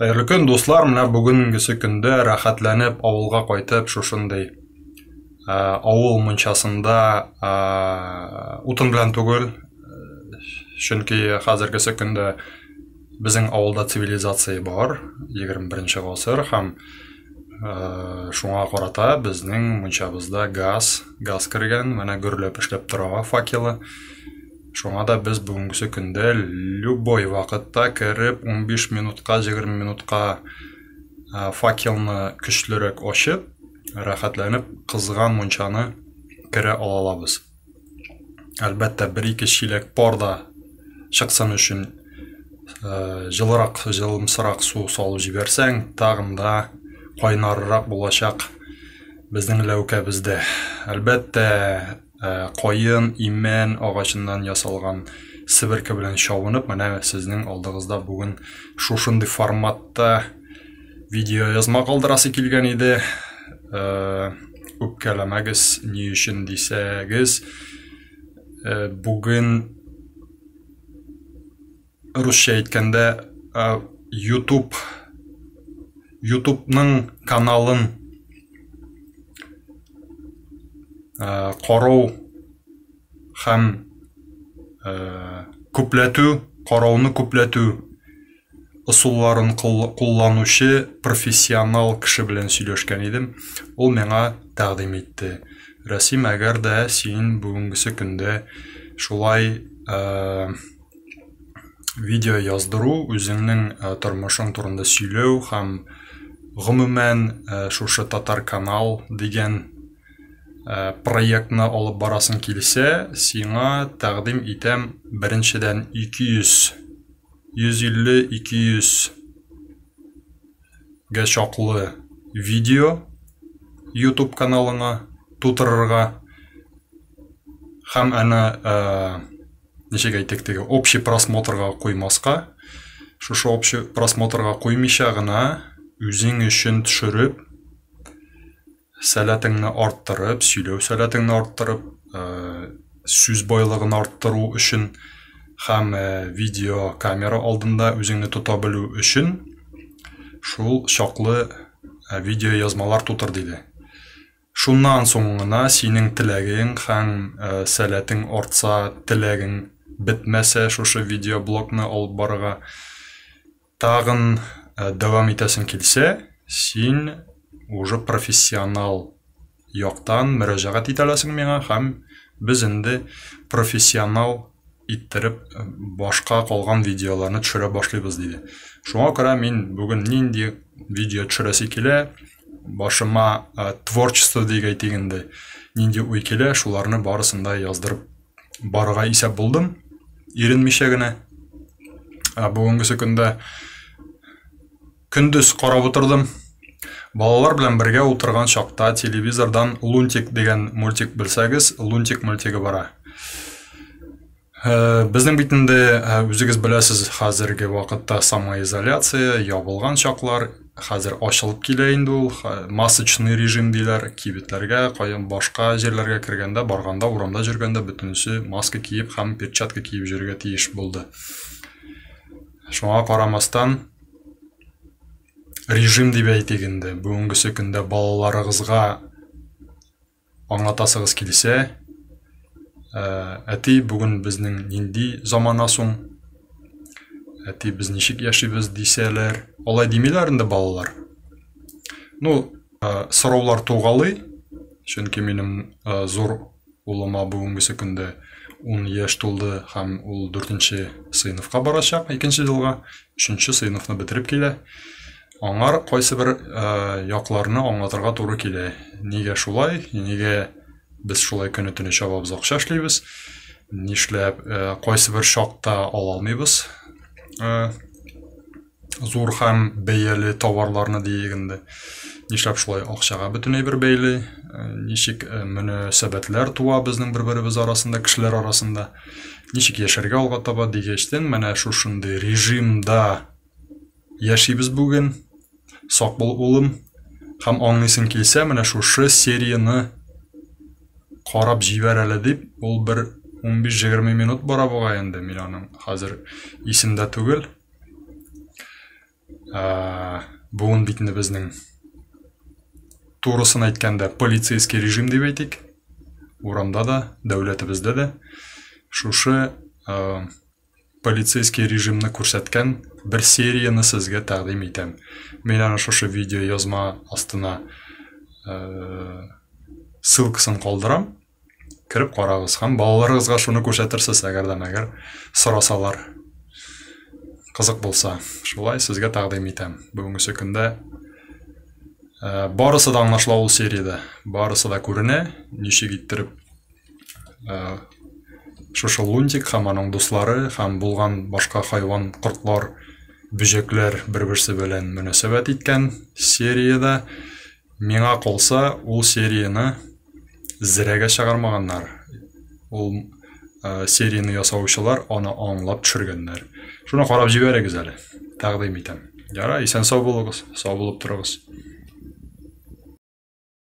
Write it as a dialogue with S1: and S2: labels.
S1: Хәерле көн, дуслар! Менә бүгенгесе көндә рәхәтләнеп авылга кайтып, шушындый ә, авыл мунчасында ә, утын белән түгел, чөнки хәзергесе көндә безнең авылда цивилизация бар, 21 гасыр һәм ә, шуңа карата безнең мунчабызда газ, газ кергән, менә гөрләп эшләп тора факелы. Шуңа да без бүгенгесе көндә любой вакытта кереп, 15 минутка, 20 минутка факелны көчлерәк ачып, рәхәтләнеп кызган мунчаны керә алалабыз. Әлбәттә, бер-ике чиләк пар да чыксын өчен э, җылырак, җылымсырак су салып җибәрсәң, тагын да кайнаррак булачак безнең ләүкәбездә. Әлбәттә, Э, кайын имән агачыннан ясалган себерке белән чабынып менә сезнең алдыгызда бүген шушындый форматта видео язма калдырасы килгән иде э, үпкәләмәгез ни өчен дисәгез э, бүген русча әйткәндә ютуб ютубның каналын карау һәм күпләтү карауны күпләтү ысулларын кулланучы профессионал кеше белән сөйләшкән идем ул миңа тәкъдим итте рәсим әгәр дә син бүгенгесе көндә шулай видео яздыру, үзеңнең э, тормышың турында сөйләү һәм гомумән э, шушы татар канал дигән э, проектны алып барасың килсә, сиңа тәкъдим итәм беренчедән 200 150-200 гә чаклы видео YouTube каналыңа тутырырга һәм ана ничек әйтик теге общий просмотрга куймаска шушы общий просмотрга куймыйча гына үзең өчен төшереп сәләтеңне арттырып сөйләү сәләтеңне арттырып ә, сүз байлыгын арттыру өчен һәм ә, видео камера алдында үзеңне тота белү өчен шул чаклы ә, видео язмалар тутыр диде Шуннан соң гына синең теләгең хәм сәләтең артса, теләгең бетмәсә шушы видеоблогны алып барырга тагын дәвам итәсең килсә, син уже профессионал яктан мөрәҗәгать ит әләсең миңа хәм без энде профессионал иттереп башка калган видеоларны төшерә башлыйбыз, диде. Шуңа күрә мин бүген нинди видео төшерәсе килә, башыма ә, творчество дип әйтик инде, нинди уй килә, шуларны барысын да яздырып барырга исәп булдым, иренмичә генә. Ә бүгенгесе көндә көндез карап утырдым. Балалар белән бергә утырган чакта телевизордан Лунтик дигән мультик белсәгез, Лунтик мультигы бара. Э, безнең бит инде э, үзегез беләсез хәзерге вакытта самоизоляция ябылган чаклар хәзер ачылып килә инде ул масочный режим диләр кибетләргә каян башка җирләргә кергәндә барганда урамда жүргәндә бөтенесе маска киеп һәм перчатка киеп йөрергә тиеш булды шуңа карамастан режим дип әйтик инде бүгенгесе көндә балаларыгызга Аңлатасыгыз килсә, ә, әти, бүген безнең нинди замана соң? Әти, без ничек яшибез, дисәләр. Алай димиләр инде балалар. Ну, ә, сораулар тугалый, чөнки минем ә, зур улыма бүгенгесе көндә 10 яшь тулды һәм ул 4 нче сыйныфка барачак, икенче елга, 3 нче сыйныфны бетереп килә. Аңар кайсы бер якларны аңлатырга туры килә. Нигә шулай? Нигә без шулай көне төне чабабыз акча эшлибез? Нишләп кайсы бер чакта ала алмыйбыз? Зур һәм бәяле товарларны диек инде. Нишләп шулай акчага бөтенләй бер бәйле? Ничек мөнәсәбәтләр туа безнең бер-беребез арасында, кешеләр арасында? Ничек яшәргә алга таба дигәчтен, менә шушындый режимда яшибез бүген. Сак бул, улым. Һәм аңлыйсың килсә, менә шушы серияны карап җибәр әле дип, ул бер 15-20 минут бара буга инде, мин аның хәзер исемдә түгел. Ә, буын битне безнең турысын әйткәндә полицейский режим дип әйтик. Урамда да, дәүләтебездә дә шушы ә, полицейский режимны күрсәткән бер серияне сезгә тәкъдим итәм. Мин аны шушы видео язма астына э, ссылкасын калдырам. Кереп карагыз һәм балаларыгызга шуны күрсәтерсез, әгәр дә мәгәр сорасалар. Кызык булса, шулай сезгә тәкъдим итәм. Бүгенге көндә Э, барысы да аңлашыла ул сериядә барысы да күренә ничек иттереп шушы лунтик һәм аның дуслары һәм булган башка хайван кортлар бөҗәкләр бер берсе белән мөнәсәбәт иткән сериядә миңа калса ул серияне зрәгә чыгармаганнар ул э, серияне ясаучылар аны аңлап төшергәннәр шуны карап җибәрегез әле тәкъдим итәм ярай исән сау булыгыз сау булып торыгыз